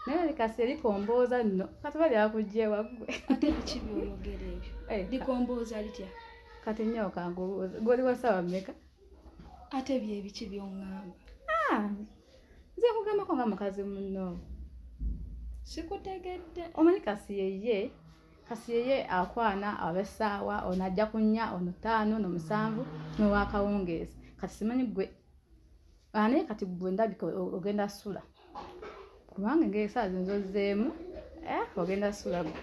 naye likasi likombooza nno kati oba lyakujja ewaggwe ate biki byoyogera ebyo eh, likombooza litya kati nnyoo kangubuuza goli wasawa mmeka ate byebiki byoŋŋamba ah, nze nkugambako nga mukazi munno sikutegedde omanyi kasi yeye kasi yeye akwana abesaawa ono ajja kunya ono taano no musanvu nowakawungeezi kati simanyi gwe ane ah, kati gwe ndabika ogenda sula kubanga engeri saa zinza ozzeemu eh, ogenda sula gwe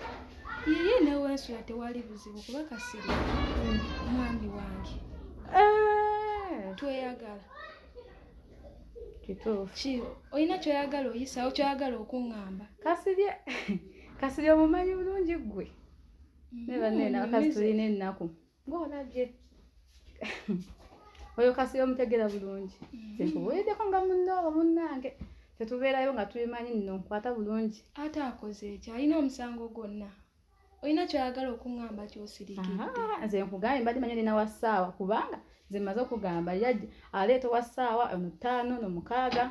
iye newensula tewali buzibu kuba kasiri hmm. mwami wange eh. tweyagala kituufu olina kyoyagala oyisawo kyoyagala okuŋŋamba kasirye kasirye omumanyi bulungi ggwe mm, naye banene abakazi tulina ennaku Ng'ona gye oyo kasi omutegera bulungi nkubuliddeko nga munno oba munnange tetubeerayo nga tubimanyi nno nkwata bulungi ate akoze ekyo alina omusango gwonna olina kyoyagala okuŋŋamba kyosirikidde nze nkugambye mbadde manyi olina wa ssaawa kubanga nze mmaze okugamba yajja aleeta owa ssaawa omutaano nomukaaga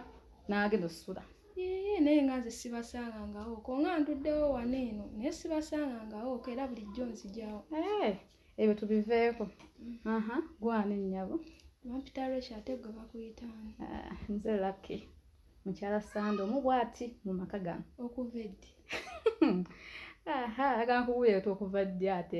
n'agenda osula Yee, naye nga nze sibasangangawo ko nga nduddewo wano eno naye sibasangangawo ko era bulijjo nzijawo eh, ebyo tubiveeko mm. gwana ennyabo bampita lwekyo ate gwe bakuyitaani ah, nze laki mukyala sande omu bwati mu maka gano okuva eddi agankubuuleeta okuva ddi ate